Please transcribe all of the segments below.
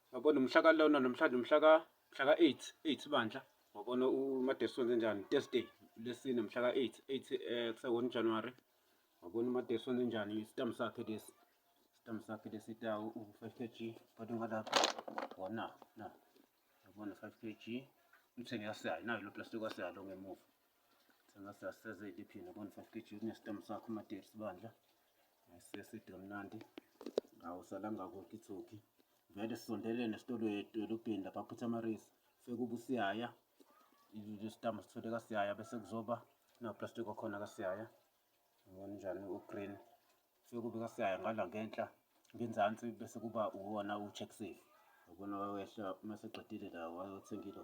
Ngabona umhla kalona namhlanje umhla ka mhla ka 8 8 bandla ngabona uMadesu wenze njani Thursday lesine mhla ka 8 8 eh kuse 1 January ngabona uMadesu wenze njani isitam sakhe lesi isitam sakhe lesi ta u 5 kg kodwa ngalapha wona na ngabona 5 kg umthenge yasayi nayo lo plastic wasalo ngemuva sengasasezeli phina bona 5 kg kunesitam sakho uMadesu bandla Seside mnandi awusalanga kokithoki vele sisondelene esitolo edolobheni lapha Putamaris sekuba usiyaya isitama sithole kasiyaya bese kuzoba naplastic okhona kasiyaya ngibona njani ugreen sekube kasiyaya ngala ngenhla ngenzansi bese kuba uwona u-check safe ubona wayehla uma seqedile la wayothengile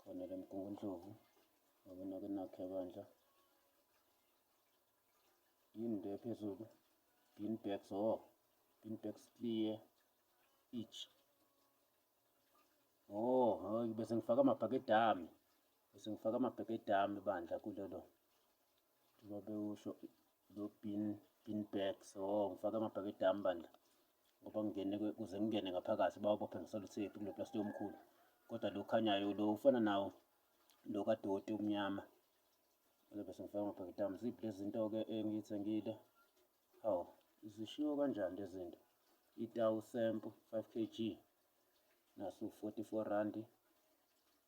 khona le mgungundlovu ngabona ke nakhe bandla yini le phezulu bean bags o oh, bean bags clear each oh hayi bese ngifaka amabhakede ami bese ngifaka amabhakede ami bandla kulelo Uma bewusho lo bin bin bag so ngifake amabhakede ami bandla ngoba ngingene kuze ngingene ngaphakathi bawubophe ngisaluthethe kulo plastic omkhulu kodwa lo khanyayo lo ufana nawo lo kadoti omnyama bese ngifaka amabhakede ami ziphi lezi zinto-ke engiyithengile hawu zishiwo kanjani lezi zinto itawu sempu 5 kg nasu 44 randi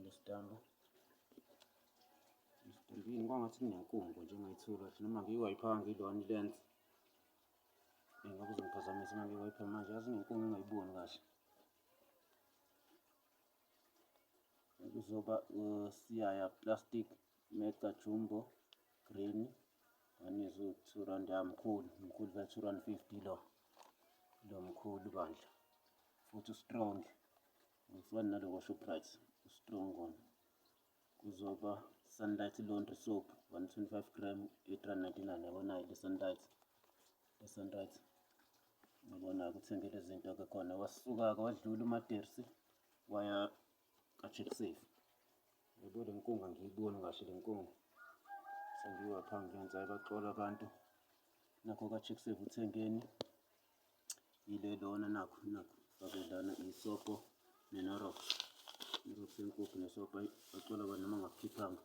Ngestambu. Istambu kwangathi kunenkungu nje engayithola kahle noma ngiyiwayipha ngilona ilensi. Ngoba uzongiphazamisa uma ngiyiwayipha manje yazi inenkungu engayiboni kahle. Kuzoba usiyaya plastic mega jumbo green anizwe two rand yamkhulu mkhulu ka two rand fifty lo lo mkhulu bandla futhi strong Ngifana nalo kwaShoprite ustrong kona kuzoba sunlight laundry soap 125 gram 899 yabonayo le sunlight le sunlight ngibona kuthenge lezi zinto ke khona wasuka-ke wadlula umatersi waya ka-check safe yabo le nkunga ngiyiboni kahle le nkunga sengiyiwapha ngiyenza ibaxola abantu nakho ka-check safe uthengeni Yile lona nakho nakho fake lana isobho nenorox. Irox yenkukhu nesobho ayi bacela abantu noma ngakukhiphanga.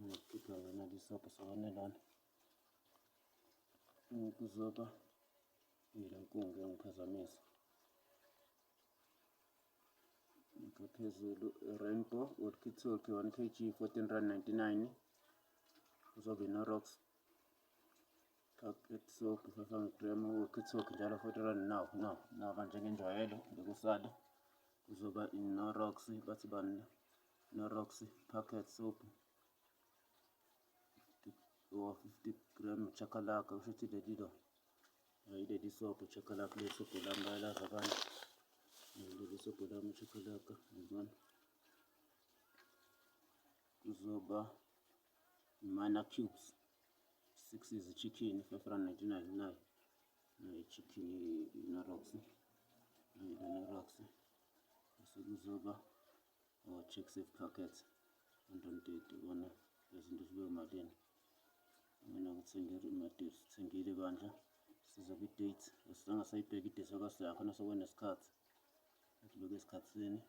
Ngakukhiphanga nali isobho sakwane lana. Ukuzoba yile nkungu yangiphazamisa. Ngipha phezulu rainbow walkie talkie 1 kg 14 rand 99 uzobe inorox Soki sasa ngikrema ukithoki njalo futhi rani nawu nawu nawu kanje ngenjwayelo ngekusale kuzoba inorox bathi bani inorox packet soap or 50 gram chakalaka kusho ukuthi leli lo yileli soap chakalaka le soap lami bayalazi abantu leli soap lami chakalaka yabona kuzoba Imana cubes 6 izichicken 599 ichicken inorox inorox bese kuzoba o-check oh, safe packet 130 kona lezinto zibe malini mina ngithengile imadate sithengile bandla siza kwi-date asizange sayibheka idate yakho nasokwena isikhathi ngibeke esikhathini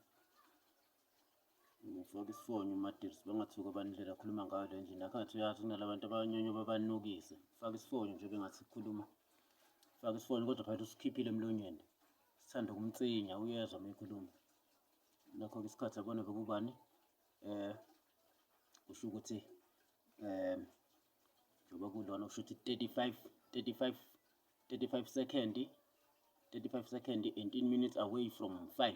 ngifake isifonyo umadivs bengathuka bandlela akhuluma ngayo le ndlela akhathi uyazi kunala bantu abanyonyo babanukise fake isifonyo nje bengathi sikhuluma fake isifonyo kodwa phakathi usikhiphile emlonyeni sithanda ukumtsinya uyezwa uma ekhuluma nakho-ke isikhathi abona bekubani um kusho ukuthi um njengoba kulona kusho ukuthi 35 35 35 second 35 second 18 minutes away from 5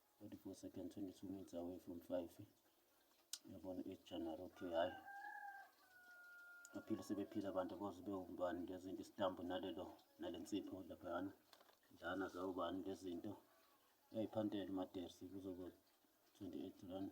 44 seconds 22 minutes away from 5 yabona ejanuary okay hhayi baphile sebephila abantu koze bewumbani ngezinto isitambu nalelo nale nsipho laphayana njana zawubani ngezinto uyayiphantela umatersi kuzobe 28 rand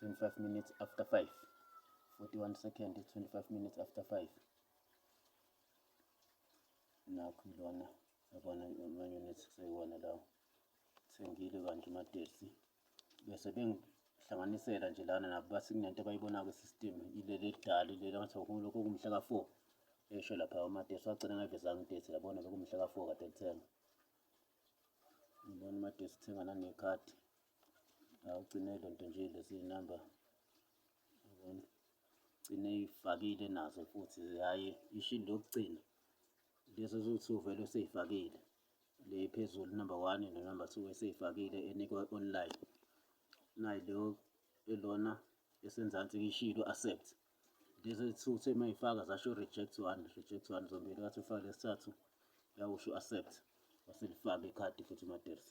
25 minutes after 5 41 second 25 minutes after 5 nakho ilona yabona ama-unit sekuyiwona lawo thengile kanti umadesi bese bengihlanganisela nje lana nabo bathi kunento abayibona-ko system ileli elidala ileli angathi lokho kumhla ka-four esho lapha umadesi wagcina ngayivezanga idate yabona bekumhla ka-four kade lithenga Ngibona made sithenga nangekhadi. Awugcine lento nje lezi number. Yabona? Gcine ifakile nazo futhi hayi ishini lokugcina. Lezi eziwu-2 vele useyifakile. Le phezulu number 1 no number 2 eseyifakile enikwa online. Nayi lo elona esenzansi ishilo accept. Lezi two uthe uma yifaka zasho reject one, reject one zombili wathi ufake lesithathu yawusho accept waselifaka ikhadi futhi uMaders.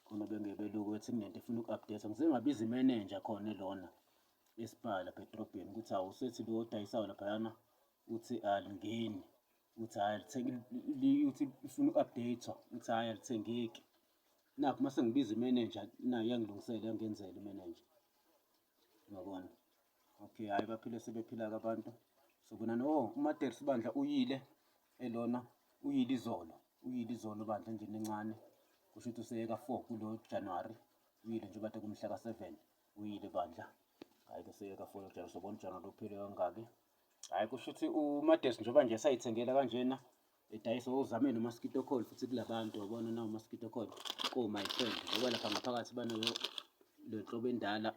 Khona bengebeluku ethi kunento efuna uku-update ngize ngabiza imenenja khona elona esibhala bedrobheni ukuthi hawu usethi lo odayisayo laphayana uthi alingeni uthi hhayi uthi ufuna uku-update-wa uthi hhayi alithengeki nakho uma sengibiza imenenja nayo yangilungisela yangenzela imenenja Ngabona. Okay, hayi baphile sebephila abantu. So kona no uMater sibandla uyile elona uyile izolo. Uyile izolo bandla nje nencane. Kusho ukuthi useyeka 4 kulo January. Uyile nje bathe kumhla ka 7. Uyile bandla. Hayi kuseyeka 4 January sobona January uphile kangaki. Hhayi kusho ukuthi uMadesi njengoba nje esayithengela kanjena edayisa uzame nomaskito coil futhi kula bantu wabona nawo maskito coil oh my friend ngoba lapha ngaphakathi banayo le nhlobo endala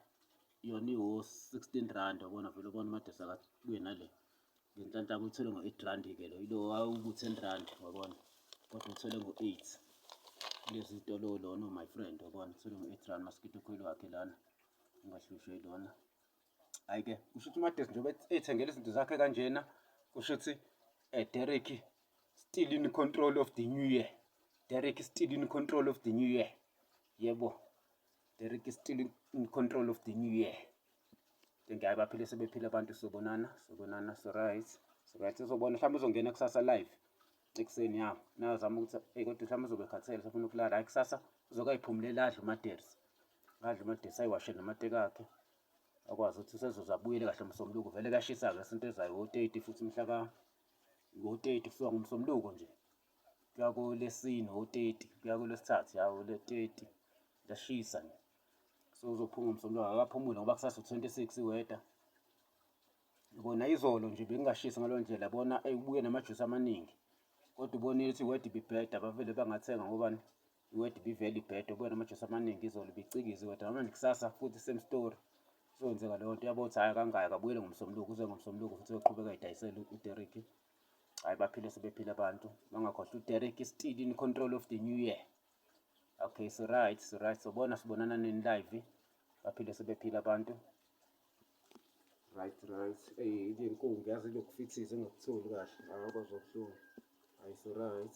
yona iwo-16 rand wabona vele ubona uMadesi akabuye nale ngenhlanhla kuyithole ngo-8 rand ke lo yilo wawuku-10 rand wabona kodwa uthole ngo-8 lezi tolo lona oh my friend wabona uthole ngo-8 rand maskito coil wakhe lana ungahlushwe ilona Hhayi ke kusho ukuthi uMadesi njengoba ey'thengela izinto zakhe kanjena kusho ukuthi um Derek still in control of the new year Derek still in control of the new year yebo Derek still in control of the new year njengaye baphile sebephila abantu sobonana sobonana so right so right uzobona mhlawumbe uzongena kusasa live ekuseni ya nazama ukuthi ey kodwa mhlawumbe uzobe khathele sefuna ukulala hayi kusasa uzokayiphumulele adle umadersi adle umadersi ayiwashe namateka akhe akwazi ukuthi usezoze abuyele kahle umsombuluko vele kuyashisa-ke isonto ezayo ngo-30 futhi mhla ka ngo-30 kusuka ngomsombuluko nje kuya kolesine ngo-30 kuya kolwesithathu ya le-30 liyashisa nje so uzophuma umsombuluko akaphumule ngoba kusasa u-26 iweda kona izolo nje bekungashisi ngaleyo ndlela bona eyi ubuye namajusi amaningi kodwa ubonile ukuthi iweda ibibheda bavele bangathenga ngobani iword be very bad ubona amajesu amaningi izolo bicikiza iword namanje kusasa futhi same story sokwenzeka leyo nto yabo ukuthi hhayi kangayi kabuyele ngomsombuluko uze ngomsombuluko futhi uyoqhubeka idayisele uderek hhayi baphile sebephile abantu bangakhohlwa uderek still in control of the new year okay so right so right sobona sibonana nini live baphile sebephile abantu right right eyi le nkungu yazi lokufithiza engakutholi kahle hayi kwazobuhlungu hayi so right